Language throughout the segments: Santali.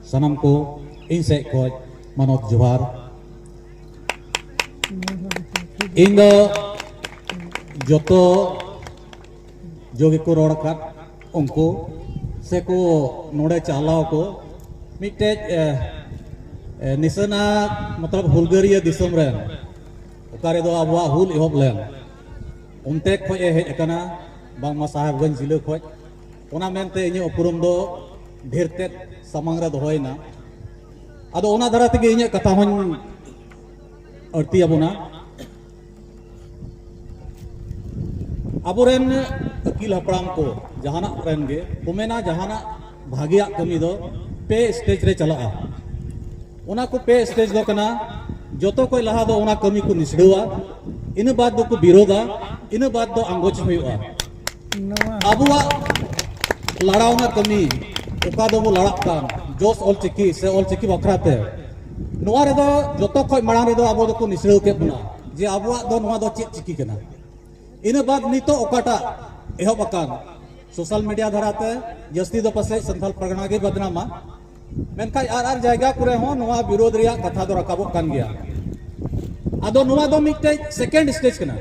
ᱥᱟᱱᱟᱢ ᱠᱚ ᱤᱧ ᱥᱮᱫ ᱠᱷᱚᱱ ᱢᱟᱱᱚᱛ ᱡᱚᱦᱟᱨ ᱤᱧ ᱫᱚ ᱡᱚᱛᱚ ᱡᱚᱜᱮ ᱠᱚ ᱨᱚᱲ ᱟᱠᱟᱫ ᱩᱱᱠᱩ ᱥᱮ ᱠᱚ ᱱᱚᱰᱮ ᱪᱟᱞᱟᱣ ᱠᱚ ᱢᱤᱫᱴᱮᱡ ᱱᱤᱥᱟᱹᱱᱟ ᱢᱚᱛᱞᱚᱵ ᱦᱩᱞᱜᱟᱹᱨᱤᱭᱟᱹ ᱫᱤᱥᱚᱢ ᱨᱮ ᱚᱠᱟ ᱨᱮᱫᱚ ᱟᱵᱚᱣᱟᱜ ᱦᱩᱞ ᱮᱦᱚᱵ ᱞᱮᱱ ᱚᱱᱛᱮ ᱠᱷᱚᱡ ᱮ ᱦᱮᱡ ᱟᱠᱟᱱᱟ ᱵᱟᱝᱢᱟ ᱥᱟᱦᱮᱵᱽᱜᱚᱸᱡᱽ ᱡᱤᱞᱟᱹ ᱠᱷᱚᱡ ᱚᱱᱟ ᱢᱮᱱᱛᱮ ᱤᱧᱟᱹᱜ ᱩᱯᱨᱩᱢ ᱫᱚ ᱰᱷᱮᱨ ᱛᱮᱫ ᱥᱟᱢᱟᱝ ᱨᱮ ᱫᱚᱦᱚᱭᱮᱱᱟ ᱟᱫᱚ ᱚᱱᱟ ᱫᱷᱟᱨᱟ ᱛᱮᱜᱮ ᱤᱧᱟᱹᱜ ᱠᱟᱛᱷᱟ ᱦᱚᱧ ᱟᱹᱲᱛᱤ ᱟᱵᱚᱱᱟ ᱟᱵᱚᱨᱮᱱ ᱟᱹᱠᱤᱞ ᱦᱟᱯᱲᱟᱢ ᱠᱚ ᱡᱟᱦᱟᱱᱟᱜ ᱨᱮᱱ ᱜᱮ ᱠᱚ ᱢᱮᱱᱟ ᱡᱟᱦᱟᱱᱟᱜ ᱵᱷᱟᱜᱮᱭᱟᱜ ᱠᱟᱹᱢᱤ ᱫᱚ ᱯᱮ ᱥᱴᱮᱡ ᱨᱮ ᱪᱟᱞᱟᱜᱼᱟ ᱚᱱᱟ ᱠᱚ ᱯᱮ ᱥᱴᱮᱡ ᱫᱚ ᱠᱟᱱᱟ ᱡᱚᱛᱚ ᱠᱚ ᱞᱟᱦᱟ ᱫᱚ ᱚᱱᱟ ᱠᱟᱹᱢᱤ ᱠᱚ ᱱᱤᱥᱲᱟᱹᱣᱟ ᱤᱱᱟᱹ ᱵᱟᱫ ᱫᱚᱠᱚ ᱵᱤᱨᱳᱫᱟ ᱤᱱᱟᱹ ᱵᱟᱫ ᱫᱚ ᱟᱸᱜᱚᱪ ᱦᱩᱭᱩᱜᱼᱟ ᱟᱵᱚᱣᱟᱜ ᱞᱟᱲᱟᱣ ᱨᱮᱱᱟᱜ ᱠᱟᱹᱢᱤ ᱚᱠᱟ ᱫᱚᱵᱚ ᱞᱟᱲᱟᱜ ᱠᱟᱱ ᱡᱚᱥ ᱚᱞᱪᱤᱠᱤ ᱥᱮ ᱚᱞᱪᱤᱠᱤ ᱵᱟᱠᱷᱨᱟ ᱛᱮ ᱱᱚᱣᱟ ᱨᱮᱫᱚ ᱡᱚᱛᱚ ᱠᱷᱚᱡ ᱢᱟᱲᱟᱝ ᱨᱮᱫᱚ ᱟᱵᱚ ᱫᱚᱠᱚ ᱱᱤᱥᱲᱟᱹᱣ ᱠᱮᱫ ᱵᱚᱱᱟ ᱡᱮ ᱟᱵᱚᱣᱟᱜ ᱫᱚ ᱱᱚᱣᱟ ᱫᱚ ᱪᱮᱫ ᱪᱤᱠᱤ ᱠᱟᱱᱟ ᱤᱱᱟᱹ ᱵᱟᱫ ᱱᱤᱛᱚᱜ ᱚᱠᱟᱴᱟᱜ ᱮᱦᱚᱵ ᱟᱠᱟᱱ ᱥᱳᱥᱟᱞ ᱢᱤᱰᱤᱭᱟ ᱫᱷᱟᱨᱟᱛᱮ ᱡᱟᱹᱥᱛᱤ ᱫᱚ ᱯᱟᱥᱮᱡ ᱥᱟᱱᱛᱟᱞ ᱯᱟᱨᱜᱟᱱᱟ ᱜᱮ ᱵᱚᱫᱱᱟᱢᱟ ᱢᱮᱱᱠᱷᱟᱱ ᱟᱨ ᱟᱨ ᱡᱟᱭᱜᱟ ᱠᱚᱨᱮ ᱦᱚᱸ ᱱᱚᱣᱟ ᱵᱤᱨᱳᱫᱷ ᱨᱮᱭᱟᱜ ᱠᱟᱛᱷᱟ ᱫᱚ ᱨᱟᱠᱟᱵᱚᱜ ᱠᱟᱱ ᱜᱮᱭᱟ ᱟᱫᱚ ᱱᱚᱣᱟ ᱫᱚ ᱢᱤᱫᱴᱮᱡ ᱥᱮᱠᱮᱱᱰ ᱥᱴᱮᱡ ᱠᱟᱱᱟ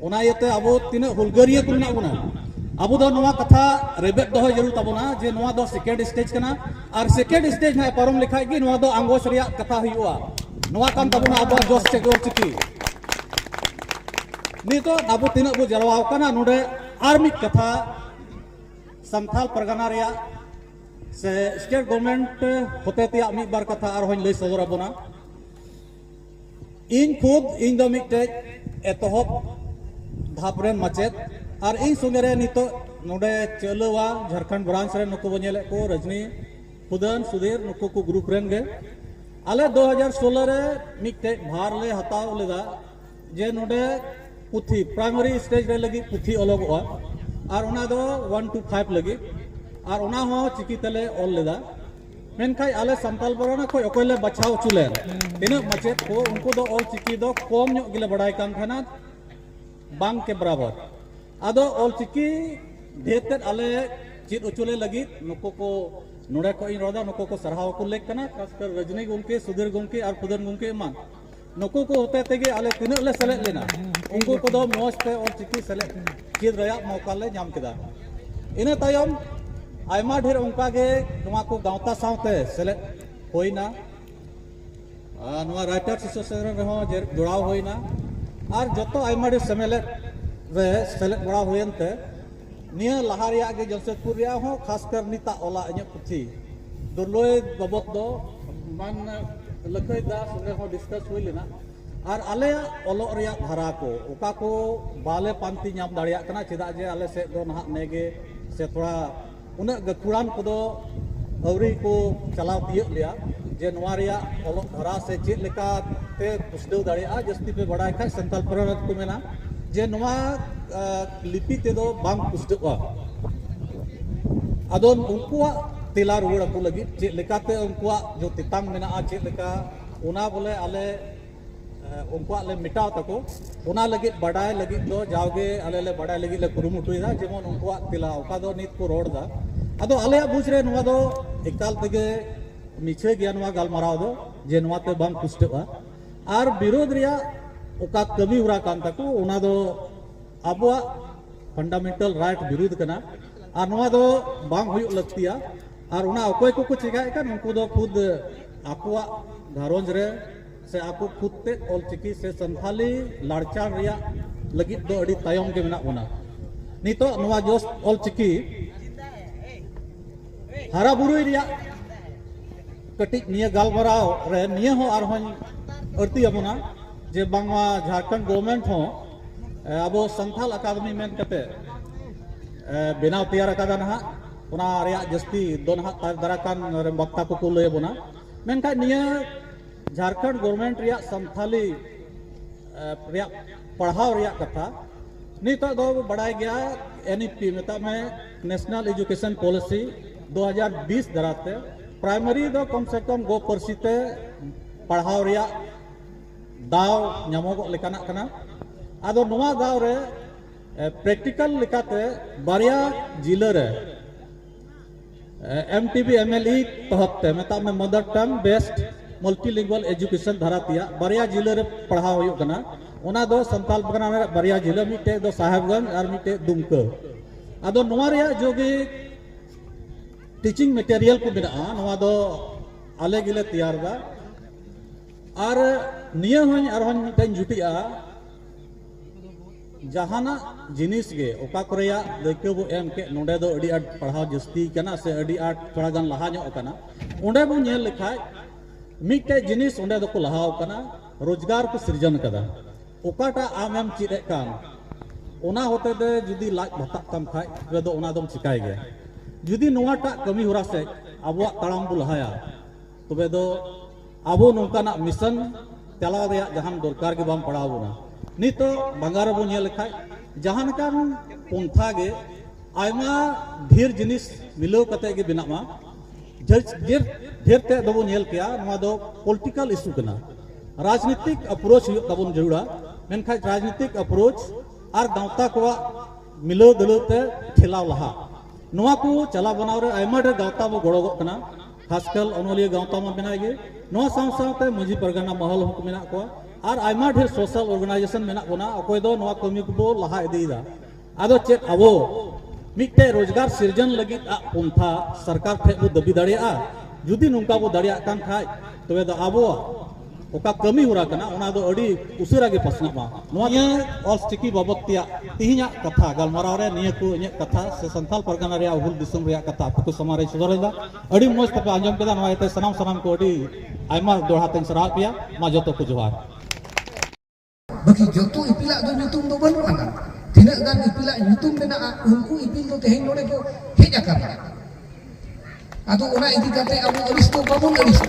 ᱚᱱᱟ ᱤᱭᱟᱹᱛᱮ ᱟᱵᱚ ᱛᱤᱱᱟᱹᱜ ᱦᱩᱞᱜᱟᱹᱨᱤᱭᱟᱹ ᱠᱚ ᱢᱮᱱᱟᱜ ᱵᱚᱱᱟ ᱟᱵᱚ ᱫᱚ ᱱᱚᱣᱟ ᱠᱟᱛᱷᱟ ᱨᱮᱵᱮᱫ ᱫᱚᱦᱚ ᱡᱟᱹᱨᱩᱲ ᱛᱟᱵᱚᱱᱟ ᱡᱮ ᱱᱚᱣᱟ ᱫᱚ ᱥᱮᱠᱮᱱᱰ ᱥᱴᱮᱡ ᱠᱟᱱᱟ ᱟᱨ ᱥᱮᱠᱮᱱᱰ ᱥᱴᱮᱡ ᱦᱟᱸᱜ ᱯᱟᱨᱚᱢ ᱞᱮᱠᱷᱟᱡ ᱜᱮ ᱱᱚᱣᱟ ᱫᱚ ᱟᱸᱜᱚᱪ ᱨᱮᱭᱟᱜ ᱠᱟᱛᱷᱟ ᱦᱩᱭᱩᱜᱼᱟ ᱱᱚᱣᱟ ᱠᱟᱱ ᱛᱟᱵᱚᱱᱟ ᱟᱵᱚᱣᱟᱜ ᱡᱚᱥ ᱥᱮ ᱜᱚᱨ ᱪᱤᱠᱤ ᱱᱤᱛᱚᱜ ᱟᱵᱚ ᱛᱤᱱᱟᱹᱜ ᱵᱚ ᱡᱟᱨᱣᱟ ᱟᱠᱟᱱᱟ ᱱᱚᱰᱮ ᱟᱨ ᱢᱤᱫ ᱠᱟᱛᱷᱟ ᱥᱟᱱᱛᱟᱞ ᱯᱟᱨᱜᱟᱱᱟ ᱨᱮᱭᱟᱜ ᱥᱮ ᱥᱴᱮᱴ ᱜᱚᱵᱷᱚᱨᱱᱢᱮᱱᱴ ᱦᱚᱛᱮ ᱛᱮᱭᱟᱜ ᱢᱤᱫ ᱵᱟᱨ ᱠᱟᱛᱷᱟ ᱟᱨᱦᱚᱸᱧ ᱞᱟᱹᱭ ᱥᱚᱫᱚᱨ ᱟᱵᱚᱱᱟ ᱤᱧ ᱠᱷᱩᱫ ᱤᱧ ᱫᱚ ᱢᱤᱫᱴᱮᱡ ᱮᱛᱚᱦᱚᱵ ᱫᱷᱟᱯ ᱨᱮᱱ ᱢᱟᱪᱮᱫ ᱟᱨ ᱤᱧ ᱥᱚᱸᱜᱮ ᱨᱮ ᱱᱤᱛᱚᱜ ᱱᱚᱰᱮ ᱪᱟᱹᱞᱟᱹᱣᱟ ᱡᱷᱟᱨᱠᱷᱚᱸᱰ ᱵᱨᱟᱱᱪ ᱨᱮ ᱱᱩᱠᱩ ᱵᱚ ᱧᱮᱞᱮᱫ ᱠᱚ ᱨᱚᱡᱽᱱᱤ ᱠᱷᱩᱫᱟᱱ ᱥᱩᱫᱷᱤᱨ ᱱᱩᱠᱩ ᱠᱚ ᱜᱨᱩᱯ ᱨᱮᱱ ᱜᱮ ᱟᱞᱮ 2016 ᱨᱮ ᱢᱤᱫᱴᱮᱡ ᱵᱷᱟᱨ ᱞᱮ ᱦᱟᱛᱟᱣ ᱞᱮᱫᱟ ᱡᱮ ᱱᱚᱰᱮ ᱯᱩᱛᱷᱤ ᱯᱨᱟᱭᱢᱟᱨᱤ ᱥᱴᱮᱡ ᱨᱮ ᱞᱟᱹᱜᱤᱫ ᱯᱩᱛᱷᱤ ᱚᱞᱚᱜᱚᱜᱼᱟ ᱟᱨ ᱚᱱᱟ ᱫᱚ ᱚᱣᱟᱱ ᱴᱩ ᱯᱷᱟᱭᱤᱵᱷ ᱞᱟᱹᱜᱤᱫ ᱟᱨ ᱚᱱᱟ ᱦᱚᱸ ᱪᱤᱠᱤ ᱛᱮᱞᱮ ᱚᱞ ᱞᱮᱫᱟ ᱢᱮᱱᱠᱷᱟᱱ ᱟᱞᱮ ᱥᱟᱱᱛᱟᱞ ᱯᱟᱨᱜᱟᱱᱟ ᱠᱷᱚᱱ ᱚᱠᱚᱭ ᱞᱮ ᱵᱟᱪᱷᱟᱣ ᱦᱚᱪᱚ ᱞᱮᱱ ᱛᱤᱱᱟᱹᱜ ᱢᱟᱪᱮᱫ ᱠᱚ ᱩᱱᱠᱩ ᱫᱚ ᱚᱞ ᱪᱤᱠᱤ ᱫᱚ ᱠᱚᱢ ᱧᱚᱜ ᱜᱮᱞᱮ ᱵᱟᱲᱟᱭ ᱠᱟᱱ ᱛᱟᱦᱮᱱᱟ ᱵᱟᱝ ᱠᱮ ᱵᱟᱨᱟᱵᱚᱨ ᱟᱫᱚ ᱚᱞ ᱪᱤᱠᱤ ᱰᱷᱮᱨ ᱛᱮᱫ ᱟᱞᱮ ᱪᱮᱫ ᱦᱚᱪᱚ ᱞᱮ ᱞᱟᱹᱜᱤᱫ ᱱᱩᱠᱩ ᱠᱚ ᱱᱚᱰᱮ ᱠᱷᱚᱱ ᱤᱧ ᱨᱚᱲᱫᱟ ᱱᱩᱠᱩ ᱠᱚ ᱥᱟᱨᱦᱟᱣ ᱠᱚ ᱞᱮᱠ ᱠᱟᱱᱟ ᱠᱷᱟᱥ ᱠᱟᱨ ᱨᱚᱡᱽᱱᱤ ᱜᱚᱢᱠᱮ ᱥᱩᱫᱷᱤᱨ ᱜᱚᱢᱠᱮ ᱟᱨ ᱯᱨᱚᱫᱷᱟᱱ ᱜᱚᱢᱠᱮ ᱮᱢᱟᱱ ᱱᱩᱠᱩ ᱠᱚ ᱦᱚᱛᱮ ᱛᱮᱜᱮ ᱟᱞᱮ ᱛᱤᱱᱟᱹᱜ ᱞᱮ ᱥᱮᱞᱮᱫ ᱞᱮᱱᱟ ᱩᱱᱠᱩ ᱠᱚᱫᱚ ᱢᱚᱡᱽ ᱛᱮ ᱚᱞ ᱪᱤᱠᱤ ᱥᱮᱞᱮᱫ ᱪᱮᱫ ᱨᱮᱭᱟᱜ ᱢᱚᱣᱠᱟ ᱞᱮ ᱧᱟᱢ ᱠᱮᱫᱟ ᱤᱱᱟᱹ ᱛᱟᱭᱚᱢ ᱟᱭᱢᱟ ᱰᱷᱮᱨ ᱚᱱᱠᱟ ᱜᱮ ᱱᱚᱣᱟ ᱠᱚ ᱜᱟᱶᱛᱟ ᱥᱟᱶᱛᱮ ᱥᱮᱞᱮᱫ ᱦᱩᱭᱱᱟ ᱟᱨ ᱱᱚᱣᱟ ᱨᱟᱭᱴᱟᱨᱥ ᱮᱥᱳᱥᱤᱭᱮᱥᱚᱱ ᱨᱮᱦᱚᱸ ᱡᱚᱲᱟᱣ ᱦᱩᱭᱱᱟ ᱟᱨ ᱡᱚᱛᱚ ᱟᱭᱢᱟ ᱰᱷᱮᱨ ᱥᱮᱢᱮᱞᱮᱫ ᱨᱮ ᱥᱮᱞᱮᱫ ᱵᱟᱲᱟ ᱦᱩᱭᱮᱱ ᱛᱮ ᱱᱤᱭᱟᱹ ᱞᱟᱦᱟ ᱨᱮᱭᱟᱜ ᱜᱮ ᱡᱟᱢᱥᱮᱫᱽᱯᱩᱨ ᱨᱮᱭᱟᱜ ᱦᱚᱸ ᱠᱷᱟᱥ ᱠᱟᱨ ᱱᱤᱛᱟᱜ ᱚᱞᱟᱜ ᱤᱧᱟᱹᱜ ᱯᱩᱛᱷᱤ ᱫᱩᱨᱞᱚᱭ ᱵᱟᱵᱚᱫ ᱫᱚ ᱢᱟᱱ ᱞᱟᱹᱠᱷᱟᱹᱭ ᱫᱟᱥ ᱚᱸᱰᱮ ᱦᱚᱸ ᱰᱤᱥᱠᱟᱥ ᱦᱩᱭ ᱞᱮᱱᱟ ᱟᱨ ᱟᱞᱮᱭᱟᱜ ᱚᱞᱚᱜ ᱨᱮᱭᱟᱜ ᱫᱷᱟᱨᱟ ᱠᱚ ᱚᱠᱟ ᱠᱚ ᱵᱟᱞᱮ ᱯᱟᱱᱛᱮ ᱧᱟᱢ ᱫᱟᱲᱮᱭᱟᱜ ᱠᱟᱱᱟ ᱪᱮᱫᱟᱜ ᱡᱮ ᱟᱞᱮ ᱥᱮᱫ ᱫᱚ ᱱᱟᱦᱟᱜ ᱱᱮᱜᱮ ᱥᱮ ᱛᱷᱚᱲᱟ ᱩᱱᱟᱹᱜ ᱜᱟᱹᱠᱷᱩᱲᱟᱱ ᱠᱚᱫᱚ ᱟᱹᱣᱨᱤ ᱠᱚ ᱪᱟᱞᱟᱣ ᱛᱤᱭᱟᱹᱜ ᱞᱮᱭᱟ ᱡᱮ ᱱᱚᱣᱟ ᱨᱮᱭᱟᱜ ᱚᱞᱚᱜ ᱫᱷᱟᱨᱟ ᱥᱮ ᱪᱮᱫ ᱞᱮᱠᱟ ᱛᱮ ᱯᱩᱥᱴᱟᱹᱣ ᱫᱟᱲᱮᱭᱟᱜᱼᱟ ᱡᱟᱹᱥᱛᱤ ᱯᱮ ᱵᱟᱲᱟᱭ ᱠᱷᱟᱱ ᱥᱟᱱᱛᱟᱲ ᱯᱟᱨᱜᱟᱱᱟ ᱨᱮᱠᱚ ᱢᱮᱱᱟ ᱡᱮ ᱱᱚᱣᱟ ᱞᱤᱯᱤ ᱛᱮᱫᱚ ᱵᱟᱝ ᱯᱩᱥᱴᱟᱹᱜᱼᱟ ᱟᱫᱚ ᱩᱱᱠᱩᱣᱟᱜ ᱛᱮᱞᱟ ᱨᱩᱣᱟᱹᱲ ᱟᱠᱚ ᱞᱟᱹᱜᱤᱫ ᱪᱮᱫ ᱞᱮᱠᱟᱛᱮ ᱩᱱᱠᱩᱣᱟᱜ ᱡᱚ ᱛᱮᱛᱟᱝ ᱢᱮᱱᱟᱜᱼᱟ ᱪᱮᱫ ᱞᱮᱠᱟ ᱚᱱᱟ ᱵᱚᱞᱮ ᱟᱞᱮ ᱩᱱᱠᱩᱣᱟᱜ ᱞᱮ ᱢᱮᱴᱟᱣ ᱛᱟᱠᱚ ᱚᱱᱟ ᱞᱟᱹᱜᱤᱫ ᱵᱟᱰᱟᱭ ᱞᱟᱹᱜᱤᱫ ᱫᱚ ᱡᱟᱣᱜᱮ ᱟᱞᱮ ᱞᱮ ᱵᱟᱰᱟᱭ ᱞᱟᱹᱜᱤᱫ ᱞᱮ ᱠᱩᱨᱩᱢᱩᱴᱩᱭᱮᱫᱟ ᱡᱮᱢᱚᱱ ᱩᱱᱠᱩᱣᱟᱜ ᱛᱮᱞᱟ ᱚᱠᱟ ᱫᱚ ᱱᱤᱛ ᱠᱚ ᱨᱚᱲ ᱮᱫᱟ ᱟᱫᱚ ᱟᱞᱮᱭᱟᱜ ᱵᱩᱡᱽ ᱨᱮ ᱱᱚᱣᱟ ᱫᱚ ᱮᱠᱟᱞ ᱛᱮᱜᱮ ᱢᱤᱪᱷᱟᱹ ᱜᱮᱭᱟ ᱱᱚᱣᱟ ᱜᱟᱞᱢᱟᱨᱟᱣ ᱫᱚ ᱡᱮ ᱱᱚᱣᱟᱛᱮ ᱵᱟᱝ ᱯᱩᱥᱴᱟᱹᱜᱼᱟ ᱟᱨ ᱵᱤᱨᱳᱫᱷ ᱨᱮᱭᱟᱜ ᱚᱠᱟ ᱠᱟᱹᱢᱤ ᱦᱚᱨᱟ ᱠᱟᱱ ᱛᱟᱠᱚ ᱚᱱᱟ ᱫᱚ ᱟᱵᱚᱣᱟᱜ ᱯᱷᱟᱱᱰᱟᱢᱮᱱᱴᱟᱞ ᱨᱟᱭᱤᱴ ᱵᱤᱨᱩᱫᱷ ᱠᱟᱱᱟ ᱟᱨ ᱱᱚᱣᱟ ᱫᱚ ᱵᱟᱝ ᱦᱩᱭᱩᱜ ᱞᱟᱹᱠᱛᱤᱭᱟ ᱟᱨ ᱚᱱᱟ ᱚᱠᱚᱭ ᱠᱚᱠᱚ ᱪᱮᱠᱟᱭᱮᱫ ᱠᱟᱱ ᱩᱱᱠᱩ ᱫᱚ ᱠᱷᱩᱫ ᱟᱠᱚᱣᱟᱜ ᱜᱷᱟᱨᱚᱸᱡᱽ ᱨᱮ ᱥᱮ ᱟᱠᱚ ᱠᱷᱩᱫ ᱛᱮ ᱚᱞ ᱪᱤᱠᱤ ᱥᱮ ᱥᱟᱱᱛᱷᱟᱞᱤ ᱞᱟᱲᱪᱟᱲ ᱨᱮᱭᱟᱜ ᱞᱟᱹᱜᱤᱫ ᱫᱚ ᱟᱹᱰᱤ ᱛᱟᱭᱚᱢ ᱜᱮ ᱢᱮᱱᱟᱜ ᱵᱚᱱᱟ ᱱᱤᱛᱚᱜ ᱱᱚᱣᱟ ᱡᱚᱥ ᱚᱞ ᱪᱤᱠᱤ ᱦᱟᱨᱟ ᱵᱩᱨᱩᱭ ᱨᱮᱭᱟᱜ ᱠᱟᱹᱴᱤᱡ ᱱᱤᱭᱟᱹ ᱜᱟᱞᱢᱟᱨᱟᱣ ᱨᱮ ᱱᱤᱭᱟᱹ ᱦᱚᱸ ᱟᱨᱦᱚᱸᱧ ᱟᱹᱲᱛᱤᱭᱟᱵᱚᱱᱟ ᱡᱮ ᱵᱟᱝᱢᱟ ᱡᱷᱟᱲᱠᱷᱚᱸᱰ ᱜᱚᱵᱷᱚᱨᱱᱢᱮᱱᱴ ᱦᱚᱸ ᱟᱵᱚ ᱥᱟᱱᱛᱟᱞ ᱟᱠᱟᱫᱮᱢᱤ ᱢᱮᱱ ᱠᱟᱛᱮ ᱵᱮᱱᱟᱣ ᱛᱮᱭᱟᱨ ᱟᱠᱟᱫᱟ ᱱᱟᱦᱟᱜ ᱚᱱᱟ ᱨᱮᱭᱟᱜ ᱡᱟᱹᱥᱛᱤ ᱫᱚ ᱱᱟᱦᱟᱜ ᱫᱟᱨᱟ ᱠᱟᱱ ᱵᱟᱠᱛᱟ ᱠᱚᱠᱚ ᱞᱟᱹᱭ ᱟᱵᱚᱱᱟ ᱢᱮᱱᱠᱷᱟᱱ ᱱᱤᱭᱟᱹ ᱡᱷᱟᱨᱠᱷᱚᱸᱰ ᱜᱚᱨᱢᱮᱱᱴ ᱨᱮᱭᱟᱜ ᱥᱟᱱᱛᱟᱞᱤ ᱨᱮᱭᱟᱜ ᱯᱟᱲᱦᱟᱣ ᱨᱮᱭᱟᱜ ᱠᱟᱛᱷᱟ ᱱᱤᱛᱚᱜ ᱫᱚ ᱵᱟᱲᱟᱭ ᱜᱮᱭᱟ ᱮᱱ ᱤ ᱯᱤ ᱢᱮᱛᱟᱜ ᱢᱮ ᱱᱮᱥᱱᱟᱞ ᱮᱡᱩᱠᱮᱥᱚᱱ ᱯᱚᱞᱤᱥᱤ ᱫᱩ ᱦᱟᱡᱟᱨ ᱵᱤᱥ ᱫᱟᱨᱟᱛᱮ ᱯᱨᱟᱭᱢᱟᱨᱤ ᱫᱚ ᱠᱚᱢ ᱥᱮ ᱠᱚᱢ ᱜᱚ ᱯᱟᱹᱨᱥᱤ ᱛᱮ ᱯᱟᱲᱦᱟᱣ ᱨᱮᱭᱟᱜ ᱫᱟᱣ ᱧᱟᱢᱚᱜᱚᱜ ᱞᱮᱠᱟᱱᱟᱜ ᱠᱟᱱᱟ ᱟᱫᱚ ᱱᱚᱣᱟ ᱫᱟᱣ ᱨᱮ ᱯᱨᱮᱠᱴᱤᱠᱟᱞ ᱞᱮᱠᱟᱛᱮ ᱵᱟᱨᱭᱟ ᱡᱤᱞᱟᱹ ᱨᱮ M T B M L E ᱛᱚᱦᱚᱛ ᱛᱮ ᱢᱮᱛᱟᱜ ᱢᱮ ᱢᱟᱫᱟᱨ ᱴᱟᱝ ᱵᱮᱥᱴ ᱢᱟᱞᱴᱤᱞᱤᱝᱜᱩᱣᱟᱞ ᱮᱡᱩᱠᱮᱥᱚᱱ ᱫᱷᱟᱨᱟ ᱛᱮᱭᱟᱜ ᱵᱟᱨᱭᱟ ᱡᱤᱞᱟᱹ ᱨᱮ ᱯᱟᱲᱦᱟᱣ ᱦᱩᱭᱩᱜ ᱠᱟᱱᱟ ᱚᱱᱟ ᱫᱚ ᱥᱟᱱᱛᱟᱞ ᱯᱟᱨᱜᱟᱱᱟ ᱨᱮᱱᱟᱜ ᱵᱟᱨᱭᱟ ᱡᱤᱞᱟᱹ ᱢᱤᱫᱴᱮᱡ ᱫᱚ ᱥᱟᱦᱮᱵᱽᱜᱚᱸᱡᱽ ᱟᱨ ᱢᱤᱫᱴᱮᱡ ᱫᱩᱢᱠᱟᱹ ᱟᱫᱚ ᱱᱚᱣᱟ ᱨᱮᱭᱟᱜ ᱡᱚᱜᱮ ᱴᱤᱪᱤᱝ ᱢᱮᱴᱮᱨᱤᱭᱟᱞ ᱠᱚ ᱢᱮᱱᱟᱜᱼᱟ ᱱᱚᱣᱟ ᱫᱚ ᱟᱞᱮ ᱜᱮᱞᱮ ᱛᱮᱭᱟᱨ ᱮᱫᱟ ᱟᱨ ᱱᱤᱭᱟᱹ ᱦᱚᱸᱧ ᱟᱨᱦᱚᱸᱧ ᱢᱤᱫᱴᱟᱝ ᱡᱩᱴᱤᱡᱼᱟ ᱡᱟᱦᱟᱱᱟᱜ ᱡᱤᱱᱤᱥ ᱜᱮ ᱚᱠᱟ ᱠᱚᱨᱮᱭᱟᱜ ᱫᱟᱹᱭᱠᱟᱹ ᱵᱚ ᱮᱢ ᱠᱮᱫ ᱱᱚᱰᱮ ᱫᱚ ᱟᱹᱰᱤ ᱟᱸᱴ ᱯᱟᱲᱦᱟᱣ ᱡᱟᱹᱥᱛᱤ ᱠᱟᱱᱟ ᱥᱮ ᱟᱹᱰᱤ ᱟᱸᱴ ᱛᱷᱚᱲᱟ ᱜᱟᱱ ᱞᱟᱦᱟ ᱧᱚᱜ ᱠᱟᱱᱟ ᱚᱸᱰᱮ ᱵᱚ ᱧᱮᱞ ᱞᱮᱠᱷᱟᱡ ᱢᱤᱫᱴᱮᱡ ᱡᱤᱱᱤᱥ ᱚᱸᱰᱮ ᱫᱚᱠᱚ ᱞᱟᱦᱟ ᱠᱟᱱᱟ ᱨᱳᱡᱽᱜᱟᱨ ᱠᱚ ᱥᱤᱨᱡᱚᱱ ᱠᱟᱫᱟ ᱚᱠᱟᱴᱟᱜ ᱟᱢᱮᱢ ᱪᱮᱫ ᱮᱫ ᱠᱟᱱ ᱚᱱᱟ ᱦᱚᱛᱮ ᱛᱮ ᱡᱩᱫᱤ ᱞᱟᱡ ᱵᱷᱟᱛᱟᱜ ᱛᱟᱢ ᱠᱷᱟᱡ ᱛᱚᱵᱮ ᱫᱚ ᱚᱱᱟ ᱫᱚᱢ ᱪᱤᱠᱟᱭ ᱜᱮᱭᱟ ᱡᱩᱫᱤ ᱱᱚᱣᱟᱴᱟᱜ ᱠᱟᱹᱢᱤ ᱦᱚᱨᱟ ᱥᱮᱡ ᱟᱵᱚᱣᱟᱜ ᱛᱟᱲᱟᱢ ᱵᱚ ᱞᱟᱦᱟᱭᱟ ᱛᱚᱵᱮ ᱫᱚ ᱟᱵᱚ ᱱᱚᱝᱠᱟᱱᱟᱜ ᱢᱤᱥᱚᱱ ᱪᱟᱞᱟᱣ ᱨᱮᱭᱟᱜ ᱡᱟᱦᱟᱱ ᱫᱚᱨᱠᱟᱨ ᱜᱮ ᱵᱟᱝ ᱯᱟᱲᱟᱣ ᱵᱚᱱᱟ ᱱᱤᱛᱚᱜ ᱵᱟᱝᱜᱟᱨ ᱨᱮᱵᱚᱱ ᱧᱮᱞ ᱞᱮᱠᱷᱟᱡ ᱡᱟᱦᱟᱸ ᱞᱮᱠᱟᱱ ᱯᱚᱱᱛᱷᱟ ᱜᱮ ᱟᱭᱢᱟ ᱰᱷᱮᱨ ᱡᱤᱱᱤᱥ ᱢᱤᱞᱟᱹᱣ ᱠᱟᱛᱮ ᱜᱮ ᱵᱮᱱᱟᱜ ᱢᱟ ᱰᱷᱮᱨ ᱰᱷᱮᱨ ᱛᱮ ᱫᱚᱵᱚᱱ ᱧᱮᱞ ᱠᱮᱭᱟ ᱱᱚᱣᱟ ᱫᱚ ᱯᱚᱞᱤᱴᱤᱠᱟᱞ ᱤᱥᱩ ᱠᱟᱱᱟ ᱨᱟᱡᱽᱱᱤᱛᱤᱠ ᱟᱯᱨᱳᱪ ᱦᱩᱭᱩᱜ ᱛᱟᱵᱚᱱ ᱡᱟᱹᱨᱩᱲᱟ ᱢᱮᱱᱠᱷᱟᱡ ᱨᱟᱡᱽᱱᱤᱛᱤᱠ ᱟᱯᱨᱳᱪ ᱟᱨ ᱜᱟᱶᱛᱟ ᱠᱚᱣᱟᱜ ᱢᱤᱞᱟᱹᱣ ᱫᱟᱹᱞᱟᱹᱣ ᱛᱮ ᱴᱷᱮᱞᱟᱣ ᱞᱟᱦᱟ ᱱᱚᱣᱟ ᱠᱚ ᱪᱟᱞᱟᱣ ᱵᱟᱱᱟᱣ ᱨᱮ ᱟᱭᱢᱟ ᱰᱷᱮᱨ ᱜᱟᱶᱛᱟ ᱵᱚ ᱜᱚᱲᱚᱜᱚᱜ ᱠᱟᱱᱟ ᱠᱷᱟᱥᱠᱟᱞ ᱚᱱᱚᱞᱤᱭᱟᱹ ᱜᱟᱶᱛᱟ ᱢᱟ ᱢᱮᱱᱟᱜ ᱜᱮ ᱱᱚᱣᱟ ᱥᱟᱶ ᱥᱟᱶᱛᱮ ᱢᱟᱹᱡᱷᱤ ᱯᱟᱨᱜᱟᱱᱟ ᱢᱚᱦᱚᱞ ᱦᱚᱸ ᱢᱮᱱᱟᱜ ᱠᱚᱣᱟ ᱟᱨ ᱟᱭᱢᱟ ᱰᱷᱮᱨ ᱥᱳᱥᱟᱞ ᱚᱨᱜᱟᱱᱟᱭᱡᱮᱥᱚᱱ ᱢᱮᱱᱟᱜ ᱵᱚᱱᱟ ᱚᱠᱚᱭ ᱫᱚ ᱱᱚᱣᱟ ᱠᱟᱹᱢᱤ ᱠᱚᱵᱚ ᱞᱟᱦᱟ ᱤᱫᱤᱭᱮᱫᱟ ᱟᱫᱚ ᱪᱮᱫ ᱟᱵᱚ ᱢᱤᱫᱴᱮᱡ ᱨᱳᱡᱽᱜᱟᱨ ᱥᱤᱨᱡᱚᱱ ᱞᱟᱹᱜᱤᱫ ᱟᱜ ᱯᱚᱱᱛᱷᱟ ᱥᱚᱨᱠᱟᱨ ᱴᱷᱮᱡ ᱵᱚ ᱫᱟᱹᱵᱤ ᱫᱟᱲᱮᱭᱟᱜᱼᱟ ᱡᱩᱫᱤ ᱱᱚᱝᱠᱟ ᱵᱚ ᱫᱟᱲᱮᱭᱟᱜ ᱠᱟᱱ ᱠᱷᱟᱡ ᱛᱚᱵᱮ ᱫᱚ ᱟᱵᱚᱣᱟᱜ ᱚᱠᱟ ᱠᱟᱹᱢᱤ ᱦᱚᱨᱟ ᱠᱟᱱᱟ ᱚᱱᱟ ᱫᱚ ᱟᱹᱰᱤ ᱩᱥᱟᱹᱨᱟ ᱜᱮ ᱯᱟᱥᱱᱟᱜ ᱢᱟ ᱱᱚᱣᱟ ᱱᱤᱭᱟᱹ ᱚᱞᱪᱤᱠᱤ ᱵᱟᱵᱚᱛ ᱛᱮᱭᱟᱜ ᱛᱮᱦᱮᱧᱟᱜ ᱠᱟᱛᱷᱟ ᱜᱟᱞᱢᱟᱨᱟᱣ ᱨᱮ ᱱᱤᱭᱟᱹ ᱠᱚ ᱤᱧᱟᱹᱜ ᱠᱟᱛᱷᱟ ᱥᱮ ᱥᱟᱱᱛᱟᱞ ᱯᱟᱨᱜᱟᱱᱟ ᱨᱮᱭᱟᱜ ᱦᱩᱞ ᱫᱤᱥᱚᱢ ᱨᱮᱭᱟᱜ ᱠᱟᱛᱷᱟ ᱟᱯᱮ ᱠᱚ ᱥᱟᱢᱟᱝ ᱨᱮᱧ ᱥᱚᱫᱚᱨ ᱮᱫᱟ ᱟᱹᱰᱤ ᱢᱚᱡᱽ ᱛᱮᱯᱮ ᱟᱸᱡᱚᱢ ᱠᱮᱫᱟ ᱱᱚᱣᱟ ᱤᱭᱟᱹᱛᱮ ᱥᱟᱱᱟᱢ ᱥᱟᱱᱟᱢ ᱠᱚ ᱟᱹᱰᱤ ᱟᱭᱢᱟ ᱫᱚᱦᱲᱟ ᱛᱮᱧ ᱥᱟᱨᱦᱟᱣᱮᱫ ᱯᱮᱭᱟ ᱢᱟ ᱡᱚᱛᱚ ᱠᱚ ᱡᱚᱦᱟᱨ ᱵᱟᱹᱠᱤ ᱡᱚᱛᱚ ᱤᱯᱤᱞᱟᱜ ᱫᱚ ᱧᱩᱛᱩᱢ ᱫᱚ ᱵᱟᱹᱱᱩᱜ ᱟᱱᱟ ᱛᱤᱱᱟᱹᱜ ᱜᱟᱱ ᱤᱯᱤᱞᱟᱜ ᱧᱩᱛᱩᱢ ᱢᱮᱱᱟᱜᱼᱟ ᱩᱱᱠᱩ ᱤᱯᱤᱞ ᱫᱚ ᱛᱮᱦᱮᱧ ᱱᱚᱰᱮ ᱠᱚ ᱦᱮᱡ ᱟᱠᱟᱱᱟ ᱟᱫᱚ ᱚᱱᱟ ᱤᱫᱤ ᱠᱟᱛᱮ ᱟᱵᱚ ᱟᱹᱲᱤᱥ ᱫᱚ ᱵᱟᱵᱚᱱ ᱟᱹᱲᱤᱥ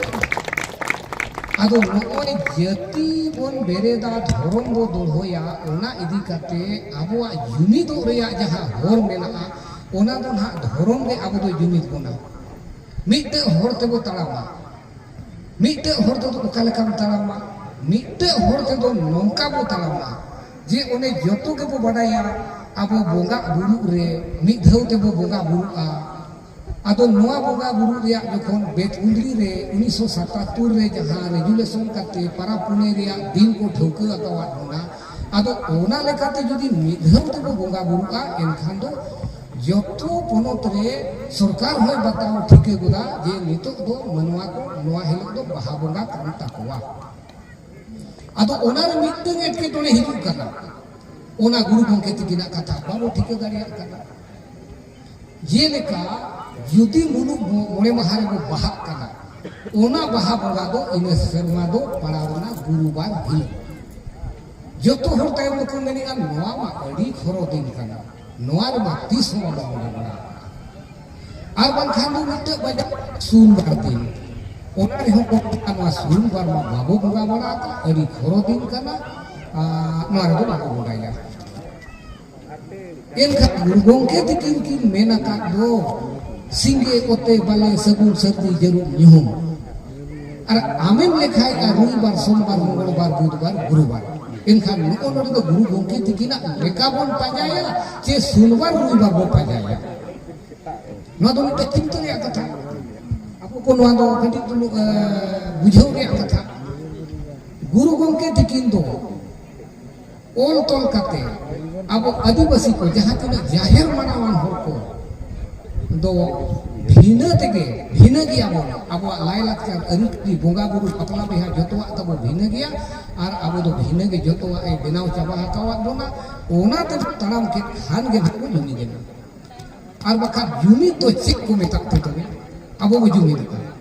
ᱟᱫᱚ ᱱᱚᱜᱼᱚᱭ ᱡᱟᱹᱛᱤ ᱵᱚᱱ ᱵᱮᱨᱮᱫᱟ ᱫᱷᱚᱨᱚᱢ ᱵᱚ ᱫᱚᱲᱦᱚᱭᱟ ᱚᱱᱟ ᱤᱫᱤ ᱠᱟᱛᱮ ᱟᱵᱚᱣᱟᱜ ᱡᱩᱢᱤᱫᱚᱜ ᱨᱮᱭᱟᱜ ᱡᱟᱦᱟᱸ ᱦᱚᱨ ᱢᱮᱱᱟᱜᱼᱟ ᱚᱱᱟ ᱫᱚ ᱱᱟᱦᱟᱜ ᱫᱷᱚᱨᱚᱢ ᱜᱮ ᱟᱵᱚ ᱫᱚ ᱡᱩᱢᱤᱫ ᱵᱚᱱᱟ ᱢᱤᱫᱴᱮᱡ ᱦᱚᱨ ᱛᱮᱵᱚ ᱛᱟᱲᱟᱢᱟ ᱢᱤᱫᱴᱮᱡ ᱦᱚᱲ ᱛᱮᱫᱚ ᱚᱠᱟ ᱞᱮᱠᱟᱢ ᱛᱟᱲᱟᱢᱟ ᱢᱤᱫᱴᱮᱡ ᱦᱚᱲ ᱛᱮᱫᱚ ᱱᱚᱝᱠᱟ ᱵᱚ ᱛᱟᱲᱟᱢᱟ ᱡᱮ ᱚᱱᱮ ᱡᱚᱛᱚ ᱜᱮᱵᱚ ᱵᱟᱰᱟᱭᱟ ᱟᱵᱚ ᱵᱚᱸᱜᱟ ᱵᱩᱨᱩᱜ ᱨᱮ ᱢᱤᱫ ᱫᱷᱟᱣ ᱛᱮᱵᱚ ᱵᱚᱸᱜᱟ ᱵᱩᱨᱩᱜᱼᱟ ᱟᱫᱚ ᱱᱚᱣᱟ ᱵᱚᱸᱜᱟ ᱵᱩᱨᱩ ᱨᱮᱭᱟᱜ ᱡᱚᱠᱷᱚᱱ ᱵᱮᱫ ᱠᱩᱸᱫᱽᱨᱤ ᱨᱮ ᱩᱱᱤᱥᱥᱚ ᱥᱟᱛᱟᱛᱛᱳᱨ ᱨᱮ ᱡᱟᱦᱟᱸ ᱨᱮᱡᱩᱞᱮᱥᱚᱱ ᱠᱟᱛᱮ ᱯᱟᱨᱟᱵᱽ ᱯᱩᱱᱟᱹᱭ ᱨᱮᱭᱟᱜ ᱫᱤᱱ ᱠᱚ ᱴᱷᱟᱹᱣᱠᱟᱹ ᱟᱠᱟᱣᱟᱫ ᱵᱚᱱᱟ ᱟᱫᱚ ᱚᱱᱟ ᱞᱮᱠᱟᱛᱮ ᱡᱩᱫᱤ ᱢᱤᱫ ᱫᱷᱟᱣ ᱛᱮᱵᱚ ᱵᱚᱸᱜᱟ ᱵᱩᱨᱩᱜᱼᱟ ᱮᱱᱠᱷᱟᱱ ᱫᱚ ᱡᱚᱛᱚ ᱯᱚᱱᱚᱛ ᱨᱮ ᱥᱚᱨᱠᱟᱨ ᱦᱚᱸᱭ ᱵᱟᱛᱟᱣ ᱴᱷᱤᱠᱟᱹ ᱜᱚᱫᱟ ᱡᱮ ᱱᱤᱛᱚᱜ ᱫᱚ ᱢᱟᱱᱣᱟ ᱠᱚ ᱱᱚᱣᱟ ᱦᱤᱞᱳᱜ ᱫᱚ ᱵᱟᱦᱟ ᱵᱚᱸᱜᱟ ᱠᱟᱱ ᱛᱟᱠᱚᱣᱟ ᱟᱫᱚ ᱚᱱᱟ ᱨᱮ ᱢᱤᱫᱴᱟᱝ ᱮᱴᱠᱮᱴᱚᱬᱮ ᱦᱤᱡᱩᱜ ᱠᱟᱱᱟ ᱚᱱᱟ ᱜᱩᱨᱩ ᱜᱚᱢᱠᱮ ᱛᱤᱠᱤᱱᱟᱜ ᱠᱟᱛᱷᱟ ᱵᱟᱵᱚ ᱴᱷᱤᱠᱟᱹ ᱫᱟᱲᱮᱭᱟᱜ ᱠᱟᱱᱟ ᱡᱮᱞᱮᱠᱟ ᱡᱩᱫᱤ ᱢᱩᱞᱩᱜ ᱢᱚᱬᱮ ᱢᱟᱦᱟ ᱨᱮᱵᱚ ᱵᱟᱦᱟᱜ ᱠᱟᱱᱟ ᱚᱱᱟ ᱵᱟᱦᱟ ᱵᱚᱸᱜᱟ ᱫᱚ ᱤᱱᱟᱹ ᱥᱮᱨᱢᱟ ᱫᱚ ᱯᱟᱲᱟᱣ ᱞᱮᱱᱟ ᱜᱩᱨᱩᱵᱟᱨ ᱦᱤᱞᱳᱜ ᱡᱚᱛᱚ ᱦᱚᱲ ᱛᱟᱭᱚᱢ ᱫᱚᱠᱚ ᱢᱮᱱᱮᱫᱼᱟ ᱱᱚᱣᱟ ᱢᱟ ᱟᱹᱰᱤ ᱠᱷᱚᱨᱚ ᱫᱤᱱ ᱠᱟᱱᱟ ᱱᱚᱣᱟ ᱨᱮᱢᱟ ᱛᱤᱥ ᱦᱚᱸ ᱵᱟᱵᱚ ᱵᱚᱸᱜᱟ ᱵᱟᱲᱟ ᱟᱨ ᱵᱟᱝᱠᱷᱟᱱ ᱫᱚ ᱢᱤᱫᱴᱮᱡ ᱵᱟᱡᱟᱨ ᱥᱩᱱ ᱵᱟᱨ ᱫᱤᱱ ᱚᱱᱟ ᱨᱮᱦᱚᱸ ᱠᱚ ᱢᱮᱛᱟᱜᱼᱟ ᱱᱚᱣᱟ ᱥᱩᱱ ᱵᱟᱨ ᱢᱟ ᱵᱟᱵᱚ ᱵᱚᱸᱜᱟ ᱵᱟᱲᱟ ᱟᱹᱰᱤ ᱠᱷᱚᱨᱚ ᱫᱤᱱ ᱠᱟᱱᱟ ᱱᱚᱣᱟ ᱨᱮᱫᱚ ᱵᱟᱵᱚ ᱵᱚᱸᱜᱟᱭᱟ ᱢᱮᱱᱠᱷᱟᱱ ᱜᱩᱨᱩ ᱜᱚᱢᱠᱮ ᱛᱤᱠᱤᱱ ᱠᱤᱱ ᱢᱮᱱ ᱟᱠᱟᱫ ᱫᱚ ᱥᱤᱸᱜᱮ ᱚᱛᱮ ᱵᱟᱞᱮ ᱥᱟᱹᱜᱩᱱ ᱥᱟᱹᱨᱫᱤ ᱡᱟᱹᱨᱩᱢ ᱧᱩᱦᱩᱢ ᱟᱨ ᱟᱢᱮᱢ ᱞᱮᱠᱷᱟᱭ ᱟᱨ ᱨᱚᱵᱤᱵᱟᱨ ᱥᱚᱢᱵᱟᱨ ᱢᱚᱝᱜᱚᱞᱵᱟᱨ ᱵᱩᱫᱷᱵᱟᱨ ᱜᱩᱨᱩᱵᱟᱨ ᱮᱱᱠᱷᱟᱱ ᱱᱚᱜᱼᱚ ᱱᱚᱰᱮ ᱫᱚ ᱜᱩᱨᱩ ᱜᱚᱢᱠᱮ ᱛᱤᱠᱤᱱᱟᱜ ᱞᱮᱠᱟ ᱵᱚᱱ ᱯᱟᱸᱡᱟᱭᱟ ᱪᱮ ᱥᱚᱢᱵᱟᱨ ᱨᱚᱵᱤᱵᱟᱨ ᱵᱚᱱ ᱯᱟᱸᱡᱟᱭᱟ ᱱᱚᱣᱟ ᱫᱚ ᱢᱤᱫᱴᱮᱱ ᱪᱤᱱᱛᱟᱹ ᱨᱮᱭᱟᱜ ᱠᱟᱛᱷᱟ ᱟᱵᱚ ᱠᱚ ᱱᱚᱣᱟ ᱫᱚ ᱠᱟᱹᱴᱤᱡ ᱪᱩᱞᱩᱝ ᱵᱩᱡᱷᱟᱹᱣ ᱨᱮᱭᱟᱜ ᱠᱟᱛᱷᱟ ᱜᱩᱨᱩ ᱜᱚᱢᱠᱮ ᱛᱤᱠᱤᱱ ᱫᱚ ᱚᱞ ᱛᱚᱞ ᱠᱟᱛᱮ ᱟᱵᱚ ᱟᱹᱫᱤᱵᱟᱹᱥᱤ ᱠᱚ ᱡᱟᱦᱟᱸ ᱛᱤᱱᱟᱹᱜ ᱡᱟᱦᱮᱨ ᱢᱟᱱᱟᱣᱟᱱ ᱦᱚᱲ ᱠᱚ ᱫᱚ ᱵᱷᱤᱱᱟᱹ ᱛᱮᱜᱮ ᱵᱷᱤᱱᱟᱹ ᱜᱮᱭᱟ ᱵᱚᱱ ᱟᱵᱚᱣᱟᱜ ᱞᱟᱭᱞᱟᱠᱪᱟᱨ ᱟᱹᱨᱤᱪᱟᱹᱞᱤ ᱵᱚᱸᱜᱟ ᱵᱩᱨᱩ ᱵᱟᱯᱞᱟ ᱵᱤᱦᱟ ᱡᱚᱛᱚᱣᱟᱜ ᱛᱟᱵᱚ ᱵᱷᱤᱱᱟᱹ ᱜᱮᱭᱟ ᱟᱨ ᱟᱵᱚ ᱫᱚ ᱵᱷᱤᱱᱟᱹ ᱜᱮ ᱡᱚᱛᱚᱣᱟᱜ ᱮ ᱵᱮᱱᱟᱣ ᱪᱟᱵᱟ ᱟᱠᱟᱣᱟᱫ ᱵᱚᱱᱟ ᱚᱱᱟ ᱛᱮ ᱛᱟᱲᱟᱢ ᱠᱮᱫ ᱠᱷᱟᱱ ᱜᱮ ᱱᱟᱦᱟᱜ ᱵᱚ ᱡᱩᱢᱤᱫ ᱮᱱᱟ ᱟᱨ ᱵᱟᱠᱷᱟᱱ ᱡᱩᱢᱤᱫ ᱫᱚ ᱪᱮᱫ ᱠᱚ ᱢᱮᱛᱟᱜ ᱛᱮ ᱛᱚᱵᱮ ᱟᱵᱚ ᱵᱚ ᱡᱩᱢᱤᱫᱚᱜᱼᱟ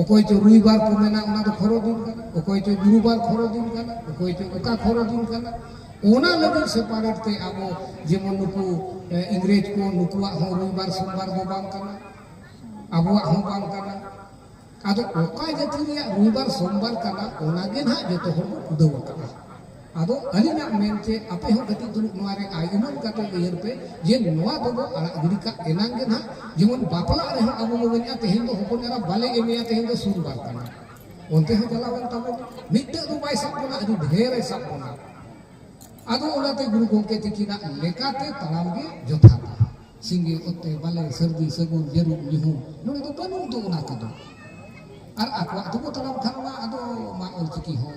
ᱚᱠᱚᱭ ᱪᱚ ᱨᱩᱭᱵᱟᱨ ᱠᱚ ᱢᱮᱱᱟ ᱚᱱᱟ ᱫᱚ ᱠᱷᱚᱨᱚ ᱫᱤᱱ ᱠᱟᱱᱟ ᱚᱠᱚᱭ ᱪᱚ ᱜᱩᱨᱩᱵᱟᱨ ᱠᱷᱚᱨᱚ ᱫᱤᱱ ᱠᱟᱱᱟ ᱚᱠᱚᱭ ᱪᱚ ᱚᱠᱟ ᱠᱷᱚᱨᱚ ᱫᱤᱱ ᱠᱟᱱᱟ ᱚᱱᱟ ᱞᱟᱹᱜᱤᱫ ᱥᱮᱯᱟᱨᱮᱴ ᱛᱮ ᱟᱵᱚ ᱡᱮᱢᱚᱱ ᱱᱩᱠᱩ ᱤᱝᱨᱮᱡᱽ ᱠᱚ ᱱᱩᱠᱩᱣᱟᱜ ᱦᱚᱸ ᱨᱩᱭᱵᱟᱨ ᱥᱳᱢᱵᱟᱨ ᱫᱚ ᱵᱟᱝ ᱠᱟᱱᱟ ᱟᱵᱚᱣᱟᱜ ᱦᱚᱸ ᱵᱟᱝ ᱠᱟᱱᱟ ᱟᱫᱚ ᱚᱠᱟ ᱡᱟᱹᱛᱤ ᱨᱮᱭᱟᱜ ᱨᱩᱭᱵᱟᱨ ᱥᱳᱢᱵᱟᱨ ᱠᱟᱱᱟ ᱚᱱᱟ ᱜᱮ ᱱᱟᱦᱟᱜ ᱡᱚᱛᱚ ᱦᱚᱲ ᱵᱚ ᱠᱩᱰᱟᱹᱣ ᱟᱠᱟᱫᱼᱟ ᱟᱫᱚ ᱟᱹᱞᱤᱧᱟᱜ ᱢᱮᱱ ᱪᱮ ᱟᱯᱮ ᱦᱚᱸ ᱠᱟᱹᱴᱤᱡ ᱫᱩᱲᱩᱵ ᱱᱚᱣᱟ ᱨᱮ ᱟᱭ ᱩᱢᱟᱹᱱ ᱠᱟᱛᱮ ᱩᱭᱦᱟᱹᱨ ᱯᱮ ᱡᱮ ᱱᱚᱣᱟ ᱫᱚ ᱵᱚ ᱟᱲᱟᱜ ᱜᱤᱰᱤ ᱠᱟᱜ ᱮᱱᱟᱝ ᱜᱮ ᱱᱟᱦᱟᱜ ᱡᱮᱢᱚᱱ ᱵᱟᱯᱞᱟᱜ ᱨᱮ ᱦᱚᱸ ᱟᱵᱚ ᱵᱚ ᱢᱮᱱᱮᱜᱼᱟ ᱛᱮᱦᱮᱧ ᱫᱚ ᱦᱚᱯᱚᱱ ᱮᱨᱟ ᱵᱟᱞᱮ ᱮᱢᱮᱭᱟ ᱛᱮᱦᱮᱧ ᱫᱚ ᱥᱩᱱ ᱵᱟᱨ ᱛᱟᱢᱟ ᱚᱱᱛᱮ ᱦᱚᱸ ᱪᱟᱞᱟᱣ ᱮᱱ ᱛᱟᱵᱚᱱ ᱢᱤᱫᱴᱟᱹᱝ ᱫᱚ ᱵᱟᱭ ᱥᱟᱵ ᱵᱚᱱᱟ ᱟᱹᱰᱤ ᱰᱷᱮᱨ ᱮ ᱥᱟᱵ ᱵᱚᱱᱟ ᱟᱫᱚ ᱚᱱᱟᱛᱮ ᱜᱩᱨᱩ ᱜᱚᱢᱠᱮ ᱛᱤᱠᱤᱱᱟᱜ ᱞᱮᱠᱟᱛᱮ ᱛᱟᱲᱟᱢ ᱜᱮ ᱡᱚᱛᱷᱟᱛᱟ ᱥᱤᱸᱜᱮ ᱚᱛᱮ ᱵᱟᱞᱮ ᱥᱟᱹᱨᱫᱤ ᱥᱟᱹᱜᱩᱱ ᱡᱟᱹᱨᱩᱢ ᱧᱩᱦᱩᱢ ᱱᱚᱰᱮ ᱫᱚ ᱵᱟᱹᱱᱩᱜ ᱫᱚ ᱚᱱᱟ ᱠᱚᱫᱚ ᱟᱨ ᱟᱠᱚᱣᱟᱜ ᱫᱚᱠᱚ ᱛᱟᱲᱟᱢ ᱠᱷᱟᱱ ᱢᱟ ᱟᱫᱚ ᱢᱟ ᱚᱞᱪᱤᱠᱤ ᱦᱚᱸ